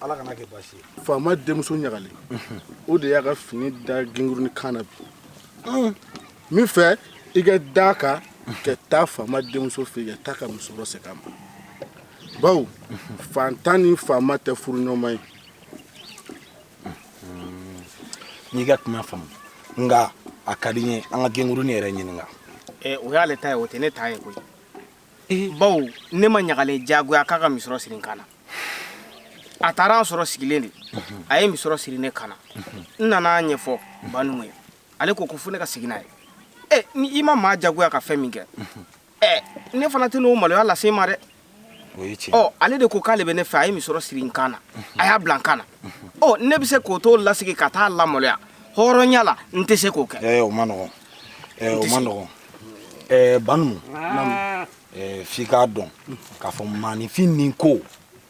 ala kana kɛ baasi ye faama denmuso ɲagalen o de y'a ka fini da ginguruni kan na bi hmm. min fɛ i ka da kan ka taa faama denmuso fɛ yen ka taa ka misɔrɔ segin a ma bawo fantan ni faama tɛ furu ɲɔgɔnma ye hmm. n'i ka kuma faamu nka a ka di n ye an ka ginguruni yɛrɛ ɲininka eh, o y'ale ta ye o tɛ ne ta ye koyi eh. bawo ne ma ɲagalen jagoya k'a ka misɔrɔ siri n kan na a taara n sɔrɔ sigilen de a ye misɔrɔ siri ne kan na n nana a ɲɛfɔ banumu ye ale ko ko fo ne ka segin n'a ye ɛ ni i ma maa jagoya ka fɛn min kɛ ɛ ne fana tɛ n'o maloya lase i ma dɛ ɔ ale de ko k'ale bɛ ne fɛ a ye misɔrɔ siri n kan na a y'a bila n kan na ɔ ne bɛ se k'o to lasegin ka taa a lamaloya hɔrɔnya la n tɛ se k'o kɛ o man nɔgɔn o man nɔgɔn banumu eh, f'i k'a dɔn k'a fɔ maaninfin ni ko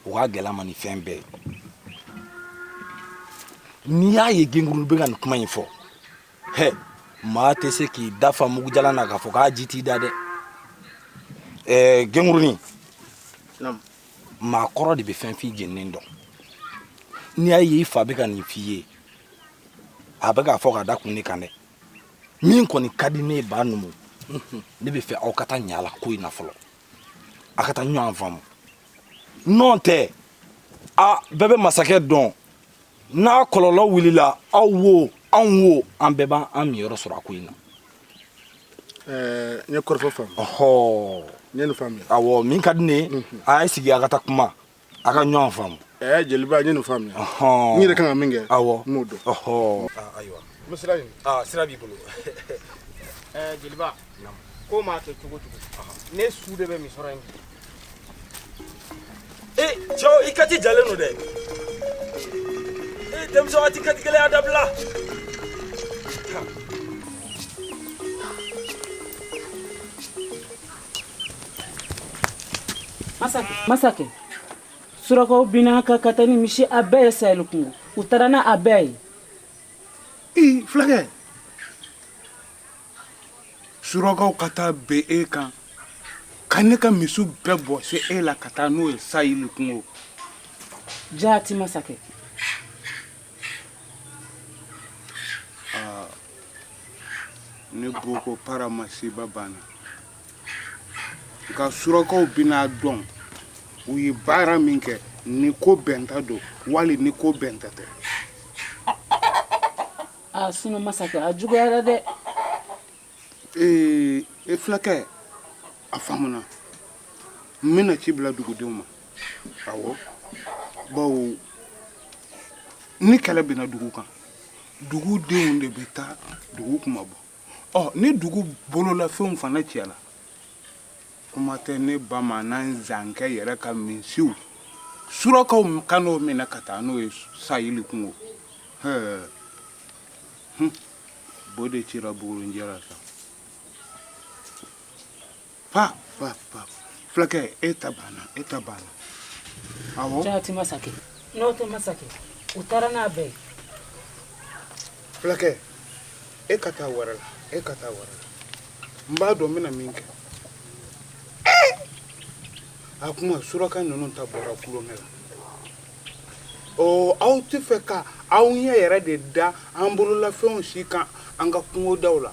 o ka gɛlɛn a ma ni fɛn bɛɛ ye n'i y'a ye genkuru bɛ ka nin kuma in fɔ hɛ maa tɛ se k'i da fa mugujalan na k'a fɔ k'a ji t'i da dɛ eh, genkurunin maa kɔrɔ de bɛ fɛn fin jeninen dɔn n'i y'a ye i fa bɛ ka nin f'i ye a bɛ k'a fɔ k'a da kun de kan dɛ min kɔni ka di ne ye banumu ne bɛ fɛ aw ka taa ɲa la ko in na fɔlɔ a ka taa ɲɔgɔn faamu n'o tɛ a bɛɛ bɛ masakɛ dɔn n'a kɔlɔlɔ wulila aw wo anw wo an bɛɛ b'an niyɔrɔ sɔrɔ a ko in na n ye kɔrɔfɔ faamu ɔhɔ n ye nin faamuya awɔ min ka di ne ye a ye sigi a ka taa kuma a ka ɲɔgɔn faamu ɛɛ jeliba n ye nin faamuya Ɔhɔn. n yɛrɛ kan ka min kɛ awɔ n b'o dɔn ɔhɔ Ah, ayiwa n bɛ sira ɲini ah, sira b'i bolo ɛɛ jeliba ko maa kɛ cogo cogo ne su de bɛ misɔrɔ in e cɛw i kati jalen don dɛ e denmisɛnw a tɛ kati gɛlɛya dabila Masakɛ surakaw binna n kan ka taa ni misi a bɛɛ ye saheli kungo u taara n'a bɛɛ ye fulakɛ surakaw ka taa bin e kan ka ne ka misi bɛɛ bɔsi e la ka taa n'o ye saheli kungo jaati masakɛ ne boko para masiba banna nka surakaw bɛna dɔn u ye baara min kɛ ni ko bɛnta don wali ni ko bɛnta tɛ a sinɔ masakɛ a juguyara dɛ ee e fulakɛ a faamuna n bɛna ci bila dugudenw ma awɔ bawo ni kɛlɛ binna dugu kan dugudenw de bɛ taa dugu kunmabɔ ɔ ni dugu bololafɛnw fana cɛla kuma tɛ ne bamanan zankɛ yɛrɛ ka misiw surakaw ka n'o minɛ ka taa n'o ye saheli kungo hɛɛ bo de cira bugurinjɛ la sa pa pa pa fulakɛ e ta banna e ta banna awɔ jaati masakɛ n'o tɛ masakɛ u taara n'a bɛɛ ye fulakɛ e ka taa wɛrɛ la e ka taa wɛrɛ la n b'a dɔn n bɛna min kɛ a kuma suraka ninnu ta bɔra tulonkɛ la ɔ aw tɛ fɛ ka aw ɲɛ yɛrɛ de da an bololafɛnw si kan an ka kungodaw la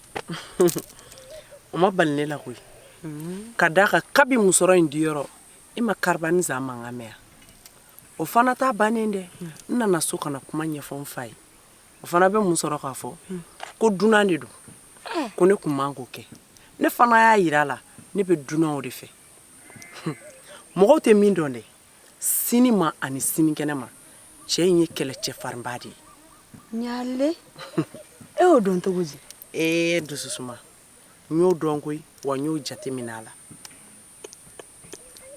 o ma bala ne la koyi ka d'a kan kabi musɔrɔ in diyɔrɔ i e ma kariba ni zan mankan mɛn o fana ta bannen dɛ n nana so ka na kuma ɲɛfɔ n fa ye o fana bɛ mun sɔrɔ k'a fɔ ko dunan de don ko ne kun man k'o kɛ ne fana y'a yira a la ne bɛ dunan o de fɛ mɔgɔw tɛ min dɔn dɛ sini ma ani sinikɛnɛ ma cɛ in ye kɛlɛcɛ farinba de ye ɲaale e y'o dɔn cogo di ee dususuma n y'o dɔn koyi wa n y'o jateminɛ a la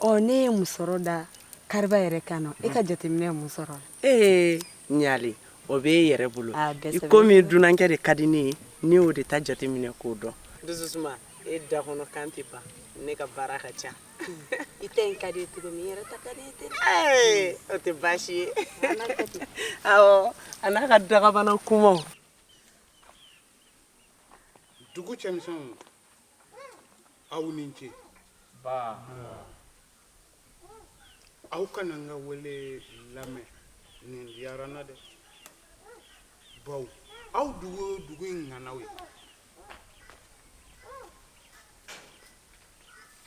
ɔ ne ye musɔrɔ da kariba yɛrɛ kan na e ka jateminɛ ye mun sɔrɔ ee ɲaale o bɛ e yɛrɛ bolo ah, i komi dunankɛ de ka di ne ye ne y'o de ta jateminɛ k'o dɔn dususuma e da kɔnɔ kan tɛ ban ne ka baara ka ca i ta in ka di ye cogo min i yɛrɛ ta ka di ye ten ee o tɛ baasi ye awɔ a n'a ka dagabana kumaw dugu cɛmisɛnw aw ni ce aw ka na n ka wele lamɛn nin diyara n na dɛ bawo aw de ye dugu in ŋanaw ye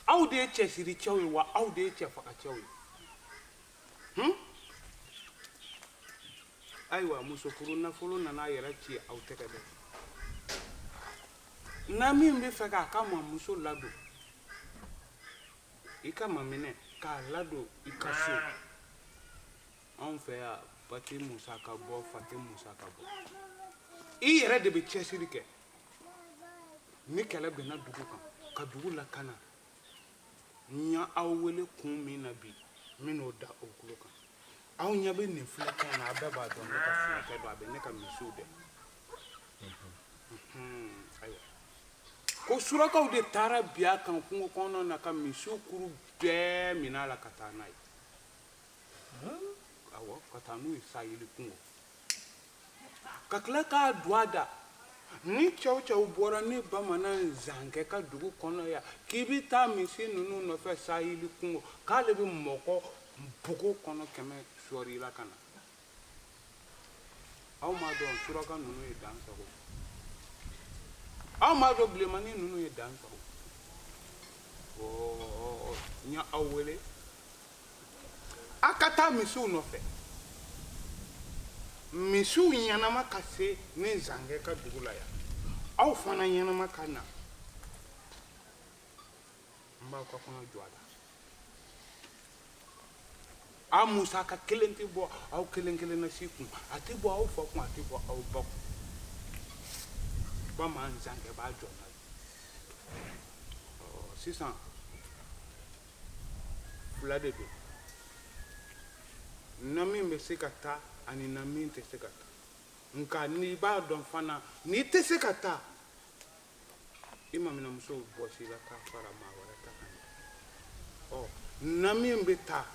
aw de ye cɛsiricɛw ye wa aw de ye cɛfagacɛw ye hmm? ayiwa musofuru nafolo nana a yɛrɛ ci aw tɛgɛ dɛ n'a min bɛ fɛ k'a kanumuso ladon i k'a maminɛ k'a ladon i ka so anw fɛ yan ba tɛ musaka bɔ fa tɛ musaka bɔ i yɛrɛ de bɛ cɛsiri kɛ ni kɛlɛ binna dugu kan ka dugu lakana n y'aw wele kun min na bi n bɛn'o da aw tulo kan aw ɲɛ bɛ nin filakɛ na a bɛɛ b'a dɔn ne ka filakɛ don a bɛ ne ka misiw gɛn ayiwa ko surakaw de taara bin a kan kungo kɔnɔna na ka misiw kuru bɛɛ minɛ a la ka taa n'a ye ka taa n'u ye saheli kungo ka tila k'a don a da ni cɛ o cɛ bɔra ne bamanan zankɛ ka dugu kɔnɔ yan k'i bɛ taa misi ninnu nɔfɛ saheli kungo k'ale bɛ mɔgɔ bugu kɔnɔ kɛmɛ sɔɔri la ka na aw m'a dɔn suraka ninnu ye dan sagon aw m'a dɔn bilenmanin ninnu ye dan sagon ɔɔ n ye aw wele a ka taa misiw nɔfɛ misiw ɲɛnama ka se ne zankɛ ka dugu la yan aw fana ɲɛnama ka na n b'aw ka kɔɲɔ jɔ a la a musaka kelen tɛ bɔ aw kelen kelen na si kun a tɛ bɔ aw fa kun a tɛ bɔ aw ba kun bamanan zankɛ b'a jɔ n'a ye sisan fila de don na min bɛ se ka taa ani na min tɛ se ka taa nka n'i b'a dɔn fana n'i tɛ se ka taa i maminamuso bɔsi i la k'a fara maa wɛrɛ ta kan ɔ na min bɛ taa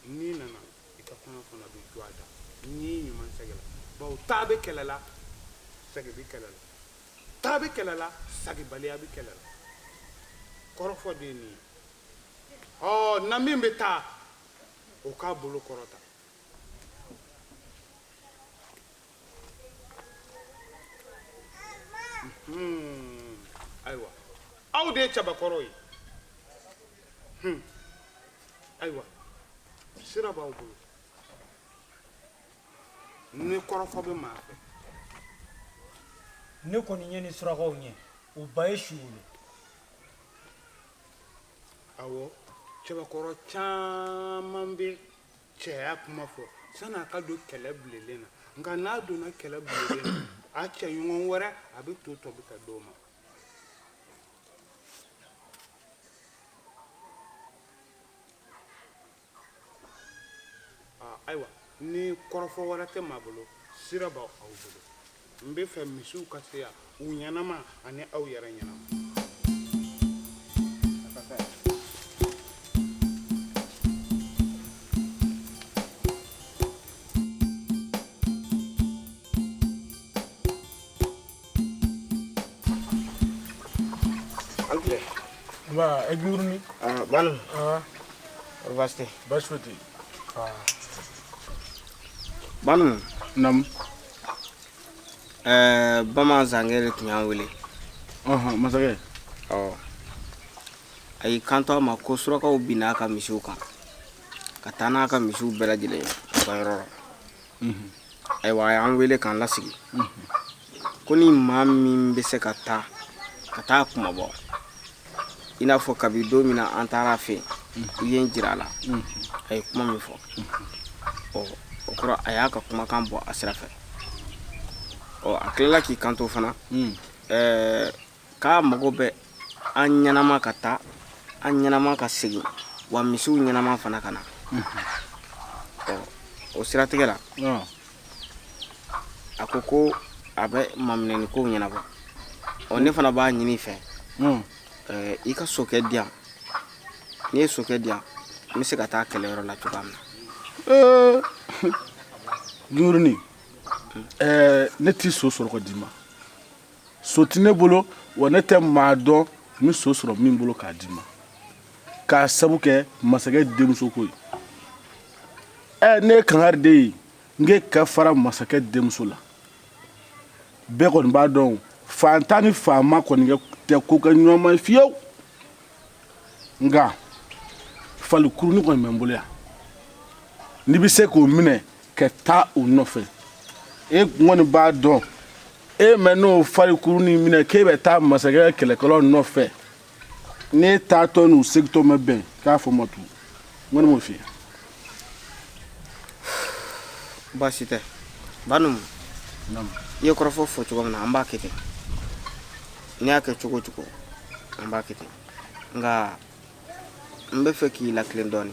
n'i nana i ka kɔɲɔ fana bɛ jɔ a da n'i ɲuman sagila bawo taa bɛ kɛlɛ la sagi bɛ kɛlɛ la taa bɛ kɛlɛ la sagibaliya bɛ kɛlɛ la kɔrɔfɔ de ye nin ye ɔ na min bɛ taa o k'a bolo kɔrɔta Hmm, ayiwa aw de ye cɛbakɔrɔw ye hmm, ayiwa sira b'aw bolo ni kɔrɔfɔ bɛ maa fɛ ne kɔni ye ni surakaw ɲɛ u ba ye su wolo awɔ cɛbakɔrɔ caman bɛ cɛya kuma fɔ san'a ka don kɛlɛ bilelen na nka n'a donna kɛlɛ bilelen na a cɛɲɔgɔn wɛrɛ a bɛ to tobi k'a d'o ma ayiwa ni kɔrɔfɔ wɛrɛ tɛ maa bolo sira b'aw bolo n b'a fɛ misiw ka se yan u ɲɛnama ani aw yɛrɛ ɲɛnama Ba, é gurni. Ah, Banumu. Ah. Baasi tɛ. Baasi tɛ. Ah. Banumu. Naamu. Eh, ba masakɛ de tun y'an wele masakɛ a y'i kanto a ma ko surakaw binna a ka misiw kan ka taa n'a ka misiw bɛɛ lajɛlen ye u ka yɔrɔ la ayiwa a y'an wele k'an lasigi ko ni maa min bɛ se ka taa ka taa a kunmabɔ i n'a fɔ kabi don min na an taara a fɛ i ye n jira a la a ye kuma min fɔ ɔ o kɔrɔ a y'a ka kumakan bɔ a sira fɛ ɔ a tilala k'i kanto fana ɛɛ k'a mago bɛ an ɲɛnama ka taa an ɲɛnama ka segin wa misiw ɲɛnama fana ka na ɔ o siratigɛ la a ko ko a bɛ maminɛni kow ɲɛnabɔ ɔ ne fana b'a ɲini i fɛ hmm. eh, i ka sokɛ di yan n'i ye sokɛ di yan n bɛ se ka taa kɛlɛyɔrɔ la cogoya min na eh, juruni eh, ne t'i so sɔrɔ ka d'i ma so tɛ ne bolo wa ne tɛ maa dɔn n bɛ so sɔrɔ min bolo k'a d'i ma k'a sabu kɛ masakɛ denmuso ko ye ɛ ne ye kangari d'e ye n k'e ka fara masakɛ denmuso la bɛɛ kɔni b'a dɔn faantan ni faama kɔni tɛ ko kɛ ɲɔgɔn ma fiyewu nka falikurunin kɔni bɛ n bolo yan n'i bɛ se k'o minɛ ka taa o nɔfɛ e kɔni b'a dɔn e man'o falikurunin minɛ k'e bɛ taa masakɛ kɛlɛkɛlaw nɔfɛ n'e taatɔ n'u segintɔ ma bɛn k'a fɔ ma tu n kɔni m'o f'i ye baasi tɛ Banumu i ye kɔrɔfɔ fɔ cogo min na an b'a kɛ ten n'i y'a kɛ cogo o cogo an b'a kɛ ten nka n b'a fɛ k'i latilen dɔɔni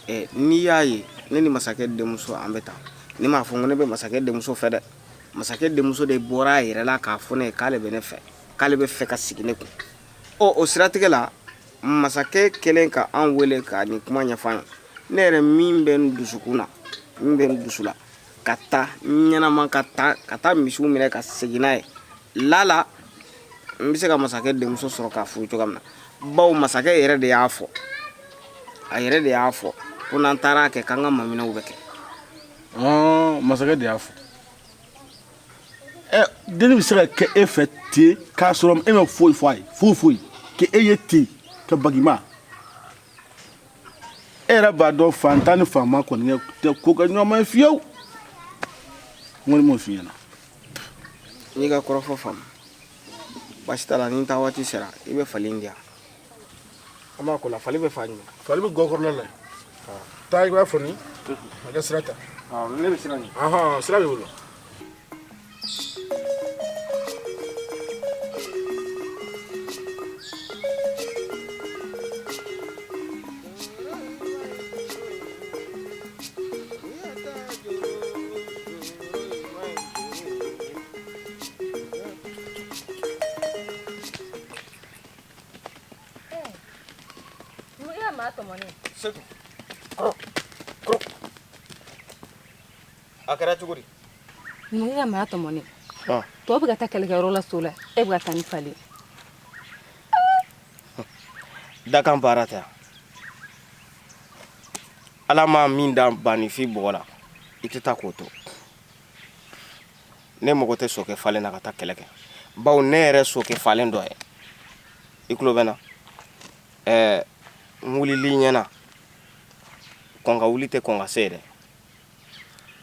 eh, n'i y'a ye ne ni masakɛ denmuso an bɛ taa ne m'a fɔ ko ne bɛ masakɛ denmuso fɛ dɛ masakɛ denmuso de bɔra a yɛrɛ la k'a fɔ ne ye k'ale bɛ ne fɛ k'ale b'a fɛ ka sigi ne kun ɔ o siratigɛ la masakɛ kɛlen ka an wele ka nin kuma ɲɛfɔ an ye ne yɛrɛ min bɛ n dusukun na min bɛ n dusu la ka taa ɲɛnama ka taa ka taa misiw minɛ ka segin n'a ye lala n bɛ se ka masakɛ denmuso sɔrɔ k'a furu cogoya min na bawo masakɛ yɛrɛ de y'a fɔ a yɛrɛ de y'a fɔ ko n'an taara kɛ k'an ka maminɛw bɛ kɛ masakɛ de y'a fɔ ɛ denni bɛ se ka kɛ e fɛ ten k'a sɔrɔ e ma foyi fɔ a ye foyi foyi k'e ye ten ka bag'i ma e yɛrɛ b'a dɔn fantan ni faama kɔni tɛ ko kɛ ɲɔgɔn ma ye fiyewu n kɔni m'o f'i ɲɛna. n y'i ka kɔrɔfɔ faamu baasi t'a la ni n taa waati sera i bɛ fali in di yan. an b'a ko la fali bɛ fa ɲɛ fali bɛ gɔkɔrɔla la taa i b'a fɔ ni a kɛ sira ta ne bɛ sira ɲɛ sira b'i bolo A kɛra cogo di numukɛ ka maa tɔmɔnen tɔw bɛ ka taa kɛlɛkɛyɔrɔ la so la e bɛ ka taa ni fali dakan baara ta ala ma min da banifin bɔgɔ la i tɛ taa k'o to ne mago tɛ sokɛ falen na ka taa kɛlɛ kɛ bawo ne yɛrɛ sokɛ falen dɔ ye i tulo bɛ n na ɛɛ n wulili ɲɛna kɔn ka wuli tɛ kɔn ka se dɛ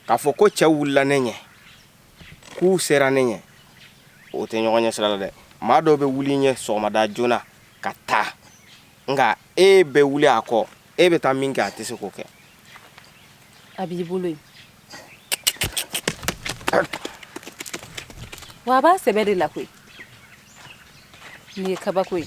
k'a fɔ ko cɛw wulila ne ɲɛ k'u sera ne ɲɛ o tɛ ɲɔgɔn ɲɛ sira la dɛ maa dɔ bɛ wuli i ɲɛ sɔgɔmada joona ka taa nka e bɛ wuli a kɔ e bɛ taa min kɛ a tɛ se k'o kɛ a b'i bolo yen wa a b'a sɛbɛ de la koyi nin ye kabako ye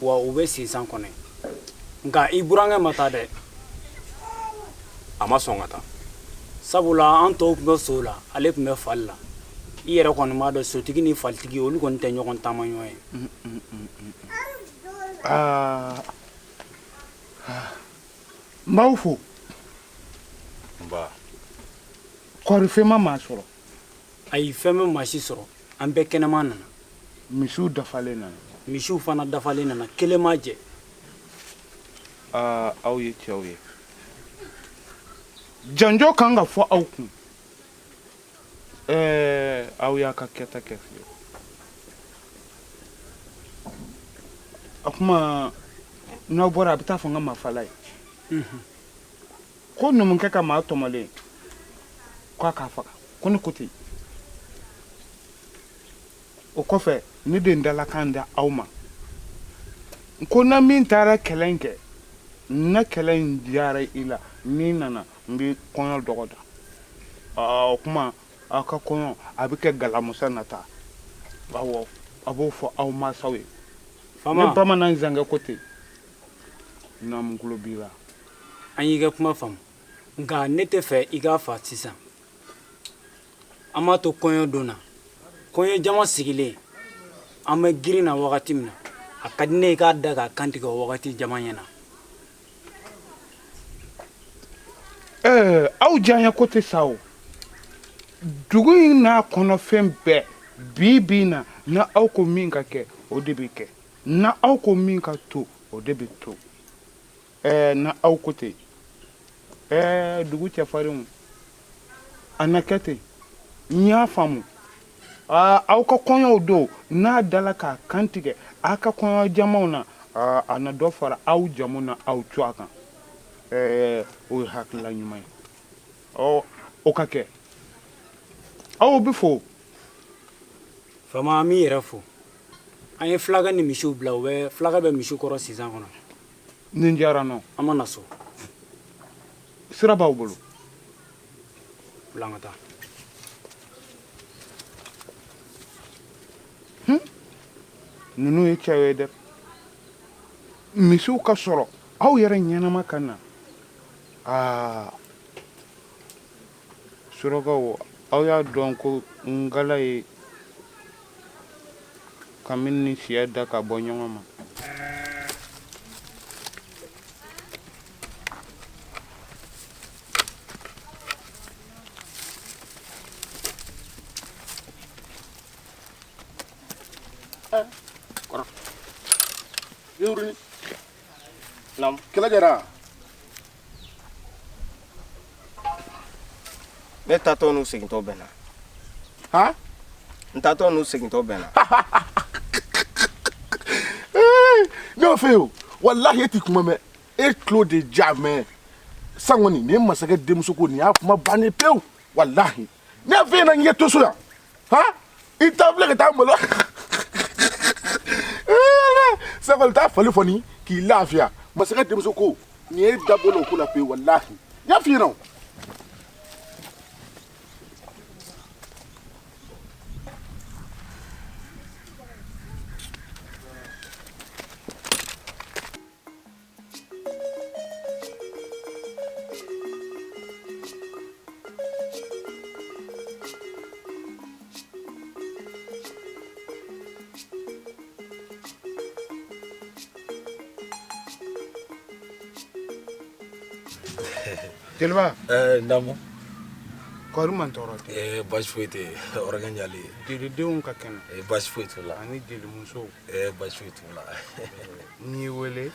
wa u bɛ sinsan kɔnɔ nka i burankɛ ma taa dɛ a ma sɔn ka taa sabula an tɔw tun bɛ sow la ale tun bɛ fali la i yɛrɛ kɔni b'a dɔn sotigi ni falitigi olu kɔni tɛ ɲɔgɔn taama ɲɔgɔn ye n b'aw fo kɔɔri fɛn ma maa sɔrɔ ayi fɛn ma maa si sɔrɔ an bɛɛ kɛnɛma nana misiw dafalen nana misiw fana dafalen nana kelen ma jɛ aa aw ye cɛw ye janjo kan ka fɔ aw kun ɛɛ aw y'a ka kɛta kɛ fiye o tuma n'aw bɔra a bɛ taa fɔ n ka mafala ye ko numukɛ ka maa tɔmɔlen k'a k'a faga ko ne ko ten o kɔfɛ ne bɛ n dalakan da aw ma n ko na min taara kɛlɛ in kɛ n na kɛlɛ in diyara i la n'i nana n bɛ kɔɲɔ dɔgɔda o kuma aw ka kɔɲɔ a bɛ kɛ alamusa nata awɔ a b'o fɔ aw mansaw ye ni bamanan zankɛ ko ten naamu tulo b'i la an y'i ka kuma faamu nka ne t'a fɛ i k'a fa sisan an b'a to kɔɲɔ don na kɔɲɔ jama sigilen an bɛ girin na wagati min na a ka di ne ye k'a da k'a kantigɛ o wagati jama ɲɛ na ɛɛ aw diyaɲɛko tɛ sa o dugu in n'a kɔnɔfɛn bɛɛ bi bi na na aw ko min ka kɛ o de bɛ kɛ na aw ko min ka to o de bɛ to Ɛɛ na aw ko ten ɛɛ dugu cɛfarinw a na kɛ ten n y'a faamu aa aw ka kɔɲɔw don n'a dala k'a kantigɛ aw ka kɔɲɔ jamaw na aa a na dɔ fara aw jamu na aw tɔgɔ kan ɛɛ o ye hakilila ɲuman ye ɔ o ka kɛ aw bɛ fo faama an b'i yɛrɛ fo an ye fulakɛ ni misiw bila u bɛ fulakɛ bɛ misiw kɔrɔ sinsan kɔnɔ nin diyara n na an ma na so sira b'aw bolo bila an ka taa ninnu ye cɛw ye dɛ misiw ka sɔrɔ aw yɛrɛ ɲɛnama ka na aa Surakaw, aw y'a dɔn ko ngala ye kami ni siya da ka bɔ ɲɔgɔn ma. kɛlɛ kɛra ne taatɔ n'u segintɔ bɛnna han n taatɔ n'u segintɔ bɛnna ne y'o f'e ye o walahi e ti kuma mɛn e tulo de ja mɛn san kɔni nin ye masakɛ denmuso ko nin y'a kuma bannen pewu walahi ne y'a f'e ɲɛna n ye to so yan han i t'a filɛ ka taa malo sakɔli taa fali fɔ ni k'i lafiya masakɛ denmuso ko nin ne da bɔla o ko la pewu walahi n y'a f'i ɲɛna o Jeliba ɛɛ n daamu kɔri man tɔɔrɔ tɛ ɛɛ baasi foyi tɛ yen hɔrɔnkɛ yali jelidenw ka kɛnɛ ɛɛ baasi foyi t'u la ani jelimusow ɛɛ baasi foyi t'u la n y'i wele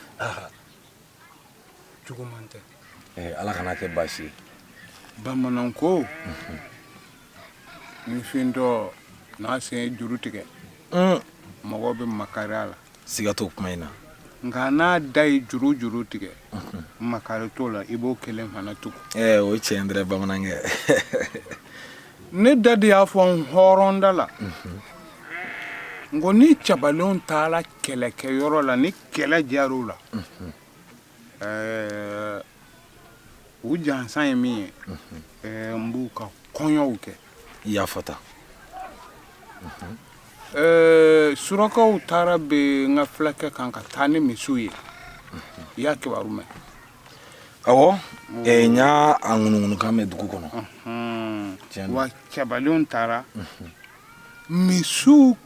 juguman tɛ eh, Ala kan'a kɛ baasi ye bamanan ko ni fiyentɔ n'a sen ye juru tigɛ mm. mɔgɔ bɛ makari a la siga t'o kuma in na nka n'a da ye juru juru tigɛ mm-hmm. makari t'o la i b'o kelen fana tugu eh, o ye tiɲɛ ye dɛ bamanankɛ ne da de y'a fɔ n hɔrɔnda la n ko ni cɛbalenw taara kɛlɛkɛyɔrɔ la ni kɛlɛ diyara u la ɛɛ u jansan ye min ye ɛɛ n b'u ka kɔɲɔw kɛ i y'a fɔ tan ɛɛ surakaw taara bin n ka fulakɛ kan ka taa ni misiw ye i y'a kibaru mɛn awɔ n y'a ŋunuŋunukan mɛn dugu kɔnɔ wa cɛbalenw taara misiw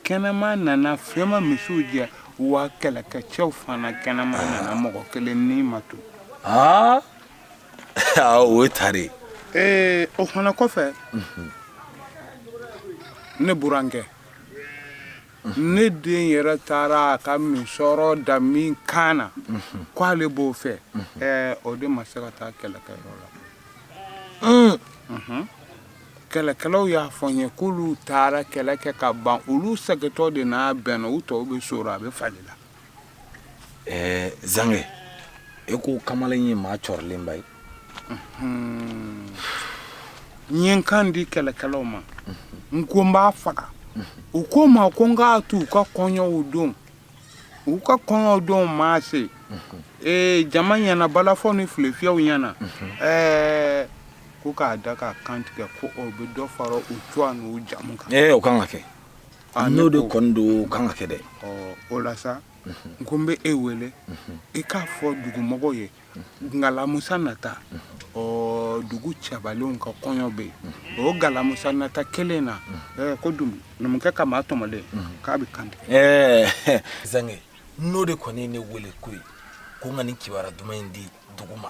kɛnɛma nana fɛn ma misiw jɛ wa kɛlɛkɛcɛw fana kɛnɛma nana mɔgɔ kelen ni ma to o ye tare ee o fana kɔfɛ ne burankɛ ne den yɛrɛ taara a ka misɔrɔ da min kan na ko ale b'o fɛ ɛɛ o de ma se ka taa kɛlɛkɛyɔrɔ la Unhun. kɛlɛkɛlaw y'a fɔ n ye k'olu taara kɛlɛ kɛ ka ban olu segintɔ de n'a bɛnna u tɔw bɛ so la a bɛ fali la ɛɛ zankɛ e ko kamalen ye maa cɔrilenba ye n ye n kan di kɛlɛkɛlaw ma n ko n b'a faga u ko n ma ko n k'a to u ka kɔɲɔw don u ka kɔɲɔw don maa se ee jama ɲɛna balafɔ ni filefiyɛw ɲɛna ɛɛ ko k'a da k'a kan tigɛ ko o bɛ dɔ fara u cogoya n'u jamu kan ee o kan ka kɛ Ah, n'o de kɔni don o kan ka kɛ dɛ o la sa n ko n bɛ e wele i k'a fɔ dugumɔgɔw ye alamisa nata ɔ dugu cɛbalenw ka kɔɲɔ bɛ yen o alamisa nata kelen na ko dun numukɛ ka maa tɔmɔlen k'a bɛ kan tigɛ zankɛ n'o de kɔni ye ne wele ko ye ko n ka nin kibaru duman in di dugu ma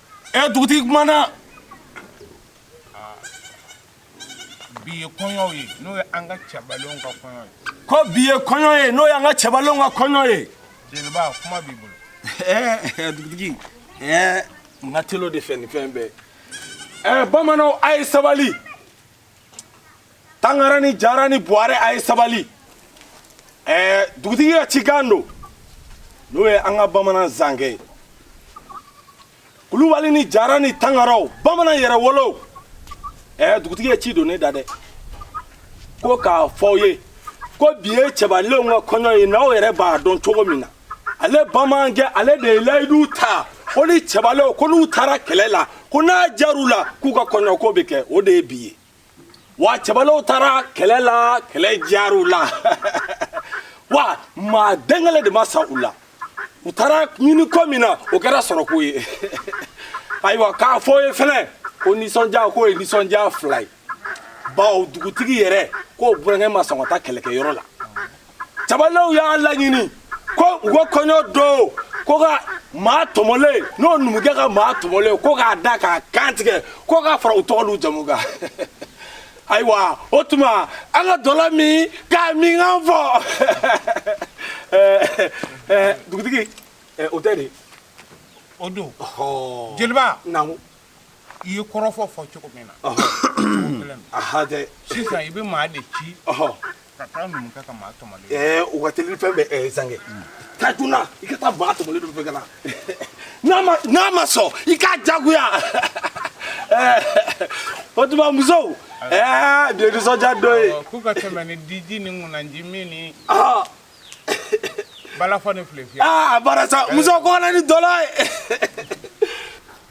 ɛ dugutigi kumana bi ye kɔɲɔ ye n'o ye an ka cɛbalenw ka kɔɲɔ ye ko bi ye kɔɲɔ ye n'o y'an ka cɛbalenw ka kɔɲɔ ye jeliba kuma b'i bolo ɛɛ dugutigi ɛɛ n ka tel'o de fɛ ni fɛn bɛɛ ɛɛ bamananw a ye sabali tangara ni jara ni buware a ye sabali ɛɛ dugutigi ka cikan don n'o ye an ka bamanan zankɛ ye kulubali ni jara ni tangaraw bamanan yɛrɛwolow ɛɛ dugutigi ye ci don ne da dɛ ko k'a fɔ aw ye ko bi ye cɛbalenw ka kɔɲɔ ye n'aw yɛrɛ b'a dɔn cogo min na ale bamanankɛ ale de ye layidu ta ko ni cɛbalew ko n'u taara kɛlɛ la ko n'a jar'u la k'u ka kɔɲɔko bɛ kɛ o de ye bi ye wa cɛbalew taara kɛlɛ la kɛlɛ jar'u la wa maa den kelen de ma sa u la u taara ɲini ko min na o kɛra sɔrɔko ye ayiwa k'a fɔ ye fɛnɛ ko nisɔndiya k'o ye nisɔndiya fila ye bawo dugutigi yɛrɛ k'o burankɛ ma sɔn ka taa kɛlɛkɛyɔrɔ la cɛbalenw y'a laɲini ko u ka kɔɲɔ don ko ka maa tɔmɔlen n'o numukɛ ka maa tɔmɔlen ko k'a da k'a kan tigɛ ko k'a fara u tɔgɔ n'u jamu kan ayiwa o tuma an ka dɔlɔ min k'a minkan fɔ dugutigi o tɛ dɛ o don jeliba naamu i ye kɔrɔfɔ fɔ cogo min na sisan i bɛ maa de ci ka taa numukɛ ka maa tɔmɔlen ɛɛ o ka teli fɛn bɛɛ ɛɛ zankɛ taa joona i ka taa maa tɔmɔlen nɔfɛ ka na n'a ma n'a ma sɔn i k'a jagoya o tuma musow ɛɛ bi ye nisɔndiya don ye k'u ka tɛmɛ ni diji ni ŋunanji min ni balafɔ ni filefiyɛ aa barasa musow ka na ni dɔlɔ ye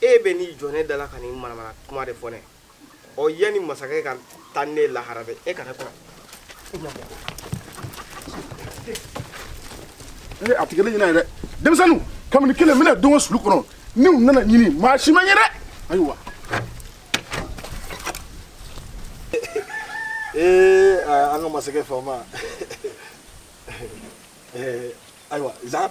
e bɛ n'i jɔ ne da la ka nin manamana kuma de fɔ ne ɔ yanni masakɛ ka taa ne lahara dɛ e kana kɔrɔ ee a tigɛli ɲinɛ ye dɛ denmisɛnninw kabini kelen n bɛna don o sulu kɔnɔ ni u nana ɲini maa si ma ɲɛ dɛ ayiwa ee an ka masakɛ faama ayiwa zan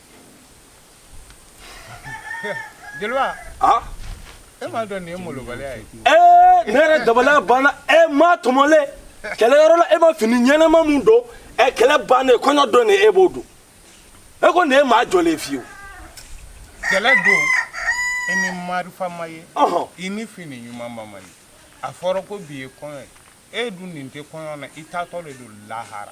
Jeliba e m'a dɔn nin ye malobali ye ne yɛrɛ dabali banna e maa tɔmɔlen kɛlɛyɔrɔ la e ma fini ɲɛnama min don ɛ kɛlɛ bannen kɔɲɔ don e b'o don e ko nin ye maa jɔlen fiyewu kɛlɛ don i ni marifa ma ye i ni fini ɲumanba ma ye a fɔra ko bi ye kɔɲɔ ye e dun nin tɛ kɔɲɔ na i taatɔ de don lahara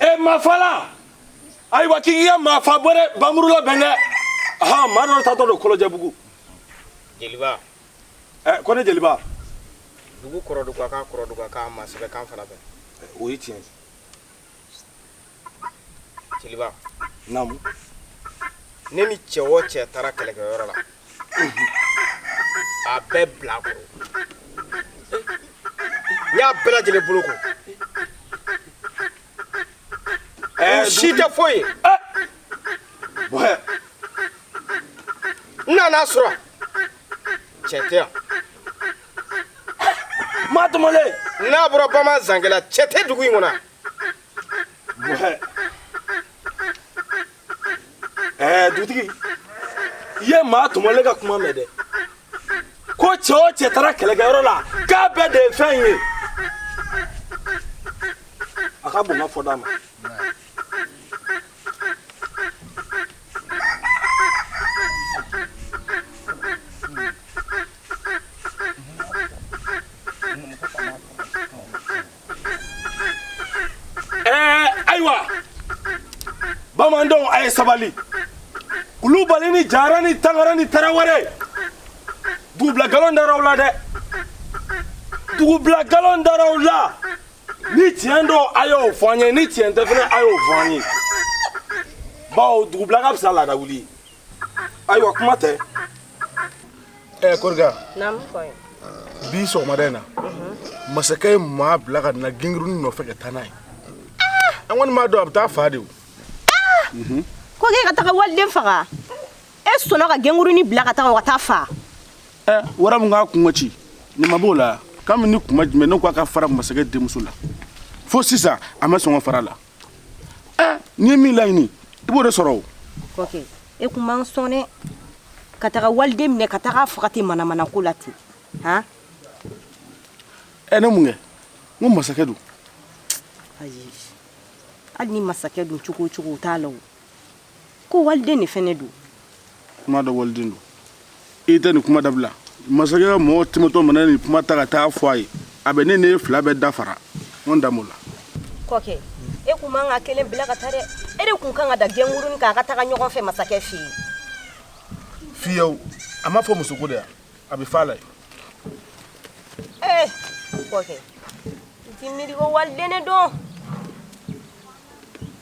e mafala ayiwa k'i k'i ka mafa bɔ dɛ bamuru labɛn dɛ ɔhɔn maa dɔ taatɔ don kolojɛbugu jeliba ɛ ko ne jeliba dugu kɔrɔduga kan kɔrɔduga kan maa sɛbɛ kan fana bɛ o ye tiɲɛ jeliba naamu ne ni cɛ o cɛ taara kɛlɛkɛyɔrɔ la a bɛɛ bilakoro n y'a bɛɛ lajɛlen boloko si tɛ foyi ye n nan'a sɔrɔ cɛ tɛ yan maa tɔmɔlen n'a bɔra bamanan zankɛ la cɛ tɛ dugu in kɔnɔ ɛɛ dutigi i ye maa tɔmɔlen ka kuma mɛn dɛ ko cɛ o cɛ taara kɛlɛkɛyɔrɔ la k'a bɛɛ de ye fɛn ye a ka bon n ka fɔda ma Ɛɛ ayiwa bamanandenw a ye sabali kulubali ni jara ni tangara ni tarawele dugubila nkalon dar'aw la dɛ dugubila nkalon dar'aw la ni tiɲɛ don a y'o fɔ an ye ni tiɲɛ tɛ fɛnɛ a y'o fɔ an ye bawo dugubila ka fisa laadawuli ye ayiwa kuma tɛ ɛ koriga bi sɔgɔmada in na mhm. masakɛ ye maa bila ka na genguruni nɔfɛ ka taa n'a ye an kɔni m'a dɔn a bɛ taa fa de o mhm. ko k'e ka taga waliden faga e sɔnna ka genguruni bila ka taga o ka taa fa ɛ wara min k'a kungo ci nin ma b'o la k'an bɛ ni kuma jumɛn ne ko a ka fara masakɛ denmuso la fo sisan a ma sɔn ka fara a la N'i ye min laɲini i b'o de sɔrɔ o kɔkɛ e kun man sɔn dɛ ka taga waliden minɛ ka taga faga ten manamana ko la ten han ɛ ne mun kɛ n ko masakɛ don ayi hali ni masakɛ don cogo o cogo o t'a la o ko waliden de fɛnɛ don kuma dɔ waliden don i tɛ nin kuma dabila masakɛ ka mɔgɔ tɛmɛtɔ mana nin kuma ta ka taa fɔ a ye a bɛ ne n'e fila bɛɛ dafara n da m'o la kɔkɛ e kun man ka kelen bila ka taa dɛ e de kun kan ka da genguruni kan a ka taga ɲɔgɔn fɛ masakɛ fɛ yen fiyewu a ma fɔ musoko de y'a bɛɛ fala ye ee kɔkɛ i ti miiri ko waliden ne don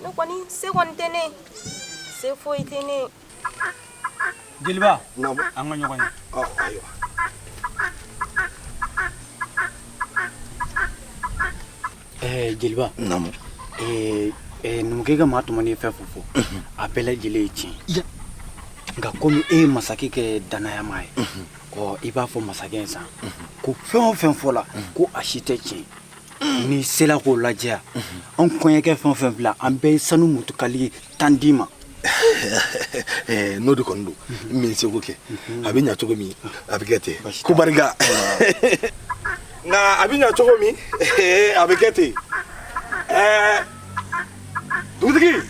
ne kɔni se kɔni tɛ ne se foyi tɛ ne jeliba an ka ɲɔgɔn ye Ɛɛ jeliba naamu ɛɛ ɛɛ numukɛ ka maa tɔmɔnen ye fɛn fɛn fɔ a bɛɛ lajɛlen ye tiɲɛ ye nka komi e ye masakɛ kɛ danayamaa ye ɔ i b'a fɔ masakɛ ye sa ko fɛn o fɛn fɔla ko a si tɛ tiɲɛ n'i sera k'o lajɛya an kɔɲɔkɛ fɛn o fɛn bila an bɛɛ ye sanu mutukali tan d'i ma eh, n'o de kɔni don mhm. min seko kɛ mhm. a bɛ ɲa cogo min a bɛ kɛ ten ko barika nka a bɛ ɲa cogo min eh, a bɛ kɛ ten eh, dugutigi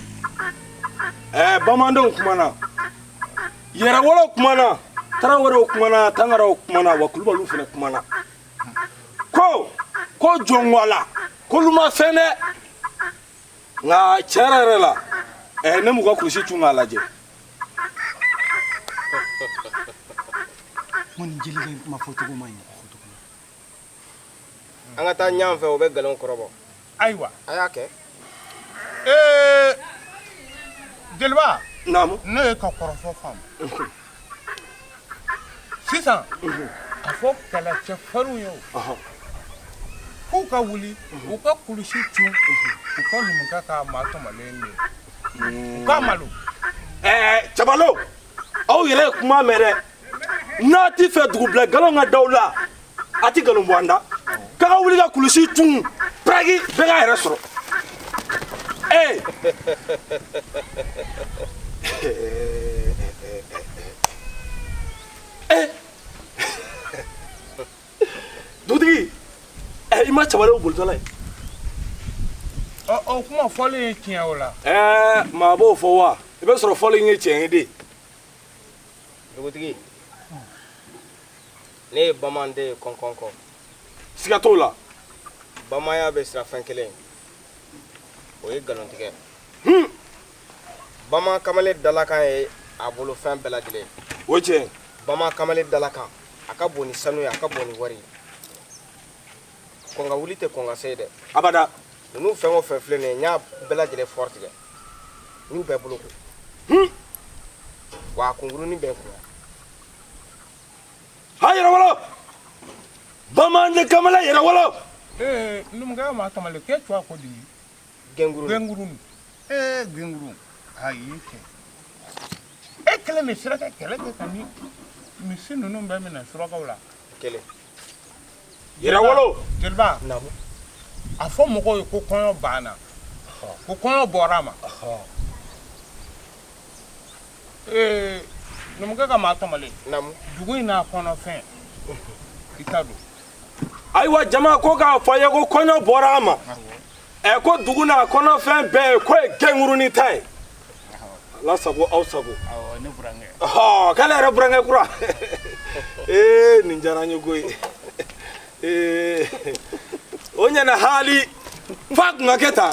bamandenw kumana yɛrɛwolow kumana tarawelew kumana tangaraw kumana wa kulubaliw fana kumana ko ko jɔnwala k'olu ma fɛn dɛ nka tiɲɛ yɛrɛ yɛrɛ la ɛɛ ne m'u ka kulusi cun k'a lajɛ ko nin jelikɛ in kuma fɔcogo man ɲi an ka taa ɲan fɛ o bɛ nkalon kɔrɔbɔ ayiwa a y'a kɛ ee jeliba naamu ne y'e ka kɔrɔfɔ faamu sisan a fɔ kɛlɛcɛ farinw ye o k'u ka wuli u ka kulusi cun u ka numukɛ ka maa tɔmɔlen ye u ka malo cɛbalew aw yɛrɛ ye kuma mɛn dɛ n'a t'i fɛ dugubila nkalon ka d'aw la a tɛ nkalon bɔ an da k'a ka wuli ka kulusi cun piraki bɛɛ k'a yɛrɛ sɔrɔ ee ee dugutigi eh, i ma cɛbalew bolitɔla ye o kuma fɔlen ye tiɲɛ o la ɛɛ eh, maa b'o fɔ wa i bɛ sɔrɔ fɔlen ye tiɲɛ ye dɛ dugutigi ne ye bamanan den ye kɔnkɔn kɔ siga t'o la bamananya bɛ siran fɛn kelen o ye nkalontigɛ hmm. bamanan kamalen dalakan ye a bolofɛn bɛɛ lajɛlen o tiɲɛ bamanan kamalen dalakan a ka bon ni sanu ye a ka bon ni wari ye kɔn ka wuli tɛ kɔn ka se ye dɛ abada ninnu fɛn o fɛn filɛ nin ye n y'a bɛɛ lajɛlen fɔrɔ tigɛ n y'u bɛɛ boloko hmm. wa a kunkurunin bɛ n kun Ha yɛrɛwolo bamanan kamalen yɛrɛwolo ee numukɛ ka maa tɔmɔlen k'e tun ko di gɛngurun ee gɛngurun ayi kɛ e kelen de sera ka kɛlɛ kɛ ka misi ninnu bɛɛ minɛ surakaw la kɛlɛ Yɛrɛwolo jeliba a fɔ mɔgɔw ye ko kɔɲɔ banna ko kɔɲɔ bɔra a ma ee numukɛ ka maa tɔmɔlen dugu in n'a kɔnɔfɛn i ta don ayiwa jama ko k'a fɔ a ye ko kɔɲɔ bɔra a ma ɛ ko dugu n'a kɔnɔfɛn bɛɛ k'o ye kɛnkurunin ta ye ala sago aw sago k'ale yɛrɛ burankɛ kura ee nin diyara n ye koyi ee o ɲɛna haali f'a tun ka kɛ tan